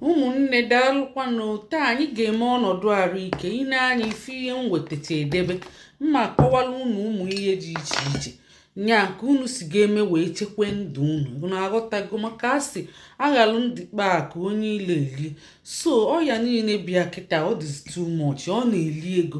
ụmụnne daalụkwanụ taa anyị ga-eme ọnọdụ arụ ike ị nee anya ịfụ ihe m wetacha edebe m ma-akọwalụ unu ụmụ ihe dị iche iche nya ka unu si ga-eme wee chekwa ndụ unu unu aghọtago maka a sị aghalụ ndụ kpaa akụ onye ilo elie so ọya niile bịa kịta ọ dịzi too much ọ na-eli ego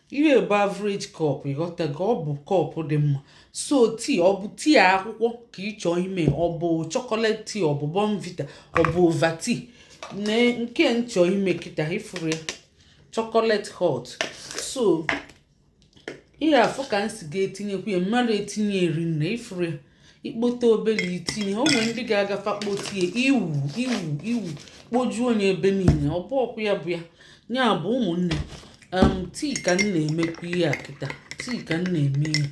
ihe a bụ average cup ịghọtago ọ bụ cup dị mma so tii ọ bụ tii akwụkwọ ka ị chọọ ime ọ bụ chocolate tii ọ bụ bournvita ọ bụ ovaltine nke m chọ ime kịta ifuru ya chocolate hot so ị ga-afụ ka m si ga-etinyekwu ya m mara etinye erinne ifuru ya ikpote obele itinye o nwere ndị ga-agafa kpotie iwu iwu iwu kpojuo onye ebe niile ọ bụ ọkụ ya bụ ya ya bụ ụmụnne tii ka m na-emekwa ihe a kịta tii ka m na-eme ihe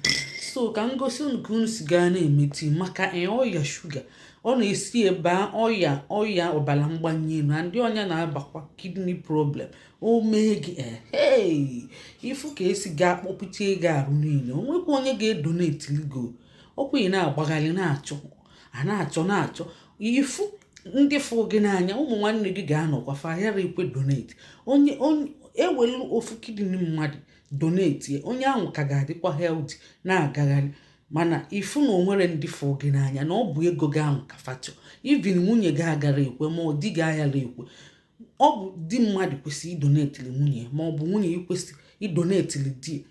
so ka m gosi unu ka unu si gaa na-eme tii maka ọya shuga ọ na-esi ebe a ọya ọya ọbara mgbanye elu ndị ọnya na-abakwa kidney problem o mee gị ee ifu ka esi gaa kpọpụta ego ahụ niile o nwekwa onye ga-edonetili gị o ọkwa ị na-agbagharị na-achọ a na-achọ na-achọ ifu ndị fụ gị n'anya ụmụ nwanne gị ga-anọkwa fa yara ekwe donate onye ewelu ofu kidney mmadụ donate onye ahụ ka ga-adịkwa healthy na-agagharị mana ifu na o nwerọ ndị fụ gị n'anya na ọ bụ ego gị ahụ ka fa tọ even nwunye gị agara ekwe ma ọ di gị ayara ekwe ọ bụ di mmadụ kwesịrị idonetili nwunye ma ọ bụ nwunye ikwesị idonetili di ya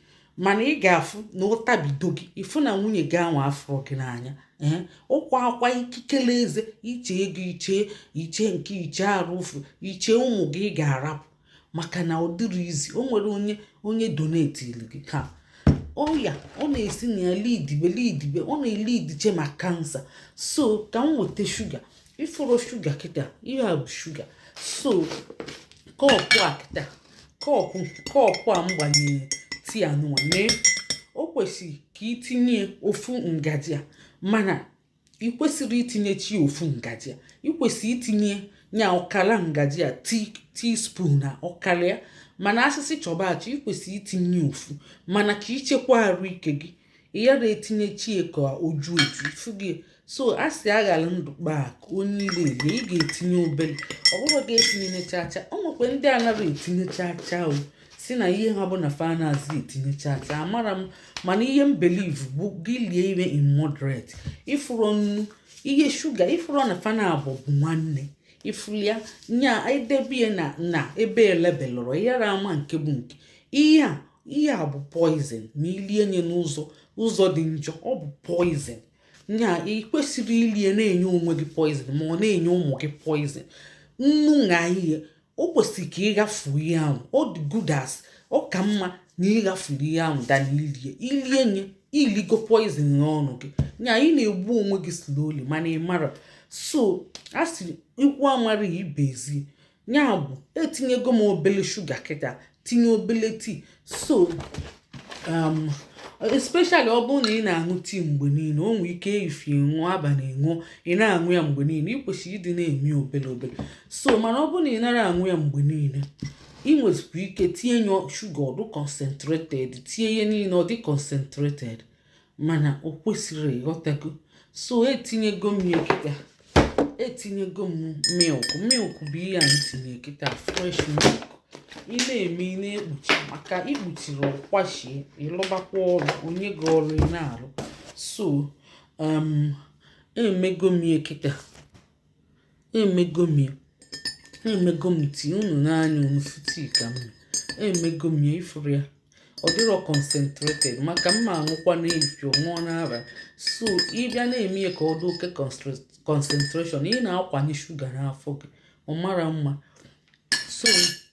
mana ị ga-afụ na ọ dabido gị ịfụ na nwunye gị anwa afụrọ gị n'anya ee ịkwa akwa ikikere eze iche ego iche iche nke iche arụ ụfụ iche ụmụ gị ị ga-arapụ maka na ọ dịrọ easy o nwerọ onye onye donetili gị ka ọya ọ na-esi na ya lidibe lidibe ọ na-elidiche ma kansa so ka m weta shuga ifuru shuga kịta ihe a bụ shuga so kọpụ a kịta kọpụ kọpụ a m gbanyere tii anụnwa mee o kwesịrị ka itinye ofu ngaji a mana ị kwesịrọ itinyechi ofu ngaji a ị kwesịrị itinye nya ọkara ngaji a teaspoon na ọkara ya mana a sị sị chọba achọ ị kwesịrị itinye ofu mana ka ichekwa arụ ike gị ị yara etinyechi ka o ju eju ifugo so a sị aghara ndụ kpaa akụ onye ilo elie ị ga-etinye obere ọ bụrọ gị etinye chacha o nwekwa ndị anaghị etinye chacha o si na ihe ha bụ na fa anazị etinye chacha amara m mana ihe m believe bụ gị lie ihe in moderate ịfụrụ nnu na shuga ịfụrụ na fa naabụ bụ nwanne ifulu ya nya edebe ya na na ebe elebelụrọ ị yara ama nke bụ nke ihe a ihe a bụ poison ma ilie nye n'ụzọ ụzọ dị njọ ọ bụ poison nya ị kwesịrị ilie na-enye onwe gị poison ma ọ na-enye ụmụ gị poison nnu na ihe o kwesịrị ka ị ghafu ihe ahụ ọ dị good as ọ ka mma na ị ghafuru ihe ahụ than na ilie ilie nye iligo poison n'ọnụ gị nya ị na-egbu onwe gị slowly mana ị mara so a sị ikwu amara ibe ezi nya bụ etinyego m obele shuga kịta tinye obele tii so um, especially ọ bụrụ na ị na-aṅụ tii mgbe niile o nwee ike efifie ṅụọ abalị ṅụọ ị na-aṅụ ya mgbe niile ị kwesịrị ịdị na-eme obele obele so mana ọ bụrụ na ị nara aṅụ ya mgbe niile ị nwezikwa ike tinye ya shuga ọ dị concentrated tinye ihe niile ọ dị concentrated mana o kwesịrị ị ghọtago so etinyego m ya kịta etinyego m milk milk bụ ihe a m tinye kịta fresh milk ị na-eme ị na-ekpuchi maka i kpuchiri ọ kwachie ị lụbakwa ọrụ o nye gị ọrụ ị na-arụ so um, emego m ya kịta emego m ya emego m tii unu n'anya unu fụ tii ka m emego m ya ị fụrụ ya ọ dịrọ concentrated maka m ma aṅụkwa n'efio ṅụọ n'abalị so ị bịa na-eme ya ka ọ dị oke concentration ị na-akwanye shuga n'afọ gị ọ mara mma so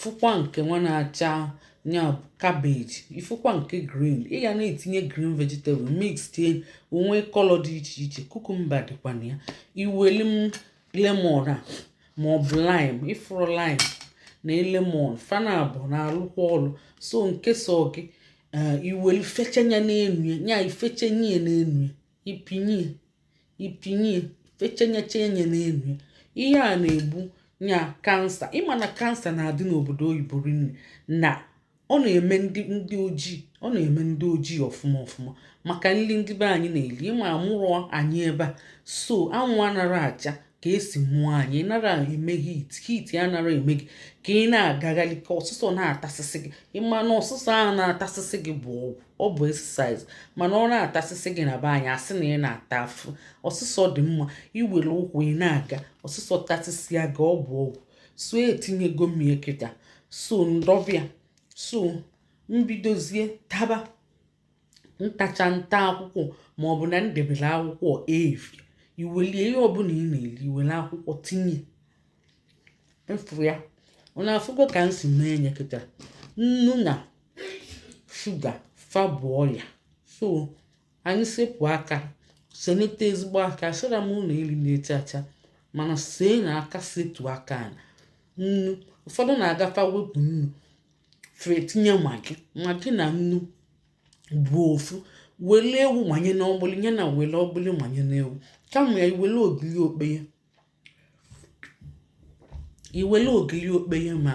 fụkwa nke nwa na-acha nya cabbage ị fụkwa nke green ị ga na-etinye green vegetable mixie o nwee color dị iche iche cucumber dịkwa na ya iweli m lemon a ma ọ bụ lime ị fụrụ lime na lemon fa naabọ na-alụkwa ọlụ so nke sọ gị i weli fechanye n'enu ya i fechanye ya n'enu ya ị pịnye ị pịnye fechenye chenye n'enu ihe a na-egbu nya kansa ị ma na kansa na-adị n'obodo oyibo rinne na ọ na-eme ndị ndị ojii ọ na-eme ndị ojii ọfụma ọfụma maka nri ndị be anyị na-eli ị ma amụrụ anyị ebe a so anwụ anara acha ka e si mụọ anyị nara eme heat heat ya anara eme gị ka ị na-agagharị ka ọsụsọ na-atasịsị gị ị ma na ọsụsọ ahụ na-atasịsị gị bụ ọgwụ ọ bụ exercise mana ọ na-atasịsị gị na be anyị a sị na ị na-ata afụfụ ọsụsọ dị mma i were ụkwụ ị na-aga ọsụsọ tasịsịa gị ọ bụ ọgwụ so etinyego m ya kịta so m dobe ya so m bidozie taba m tacha m ta akwụkwọ ma ọ bụ na m debere akwụkwọ evi i welie ihe ọbụla ị na-eli i were akwụkwọ tinye mfụ ya unu afụgo ka m si mee nye kịta nnu na shuga fa bụ ọya so anyị sepụ aka senete ezigbo aka asịrọ m unu erina chacha mana see na aka setu aka na nnu ụfọdụ na-aga fa wepụ nnu fa etinye magi magi na nnu bụ ofu wele ewu manye na ọgbụlị ya na wele ọgbụlị manye na ewu kama ya i wele ogiri okpeye i were ogiri okpeye ma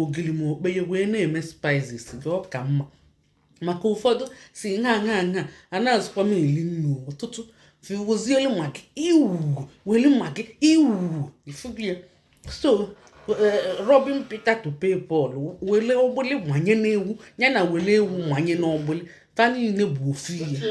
ogiri ma okpeye wee na-eme spices gị ọ ka mma maka ụfọdụ sị nha nha nha anazịkwa m eri nnu ọtụtụ fiwozielu magi iwu were magi iwu ifubie so robin peter to pay paul were ọgbụlị manye n'ewu ya na were ewu manye n'ọgbụlị fa niile bụ ofu ihe